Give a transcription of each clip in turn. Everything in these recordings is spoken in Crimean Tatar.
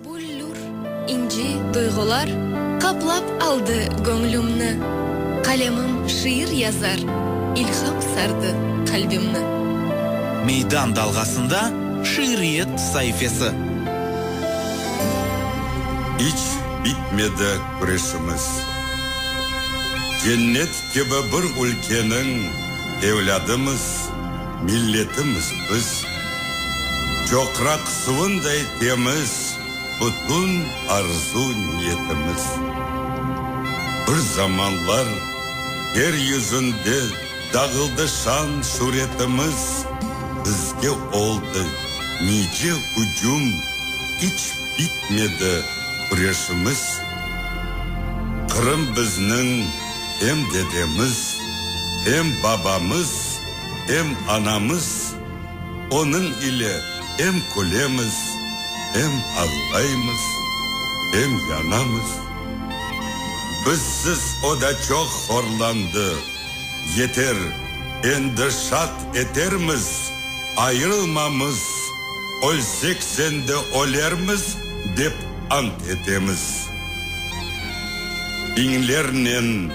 Büllür inci duyğular qaplap aldı göñlümni, Qalemim şiir yazar, ilham sardı qalbimni. Meydan dalğasında şiiriyet saifesi. İç bitmedi küreşimiz, cennet kibi bir ülkeniñ evlâdımız, milletimiz biz. Çoqraq suvunday temiz bütün arzu niyetimiz. Bir zamanlar yer yüzünde. Dağıldı şan-şüretimiz, bizge oldı nice hücüm, İç bitmedi küreşimiz. Qırım bizniñ hem dedemiz, hem babamız, hem anamız, Onıñ ile hem külemiz, hem ağlaymız, hem yanamız. Bizsiz o da çoq horlandı. Yeter, endi şat etermiz, ayırılmamız, ölsek sende ölermiz, dep ant etemiz. Biñlernen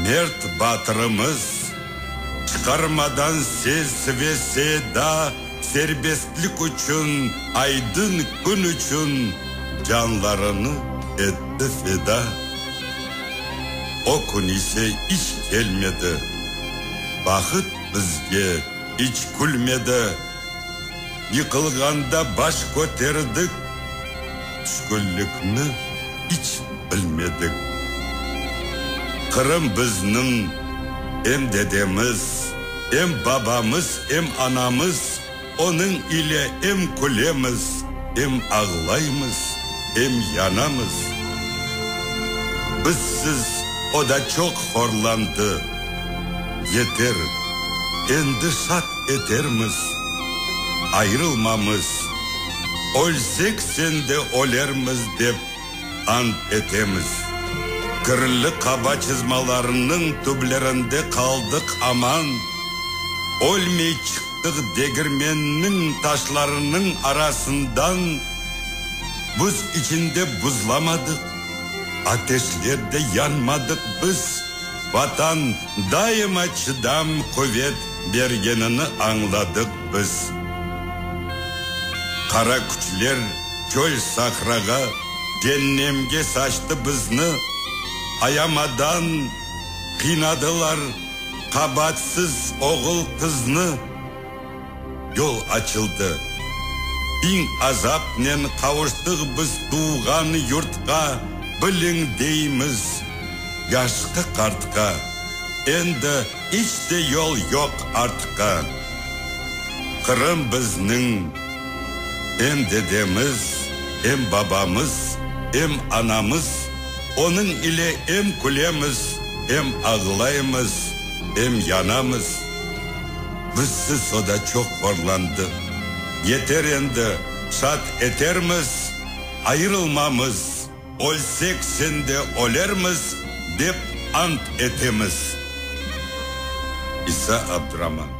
mert batırımız çıqarmadan ses ve seda, serbestlik içün, aydın kün içün canlarını etti feda. O kün ise iç kelmedi, bahıt bizge iç külmedi. Yıqılğanda baş köterdik, tüşkünlikni iç bilmedik. Qırım bizniñ, em dedemiz. Em babamız, em anamız, onıñ ile em külemiz, em ağlaymız, em yanamız. Bizsiz o da çoq horlandı. Yeter, endi şat etermiz. Ayırılmamız, ölsek sende ölermiz, dep. Ant etemiz, kirli qaba çızmalarınıñ tüblerinde qaldıq aman, Ölmey çıqtıq degirmenniñ taşlarınıñ arasından, Buz içinde buzlamadıq, ateşlerde yanmadıq biz, Vatan daima çıdam, quvet bergenini añladıq biz. Qara küçler. Çöl-sahrağa, cennemge saçtı bizni, Ayamadan qıynadılar qabatsız oğul-qıznı. Yol açıldı, biñ azapnen qavuştıq biz tuvğan yurtqa, Biliñ, deymiz yaşqı-qartqa, endi iç te yol yoq artqa. Qırım bizniñ. Em dedemiz, em babamız, em anamız, onıñ ile em külemiz, em ağlaymız, em yanamız. Bizsiz o da çoq horlandı. Yeter endi, şat etermiz, ayırılmamız, ölsek sende ölermiz, dep ant etemiz. İsa Abdraman.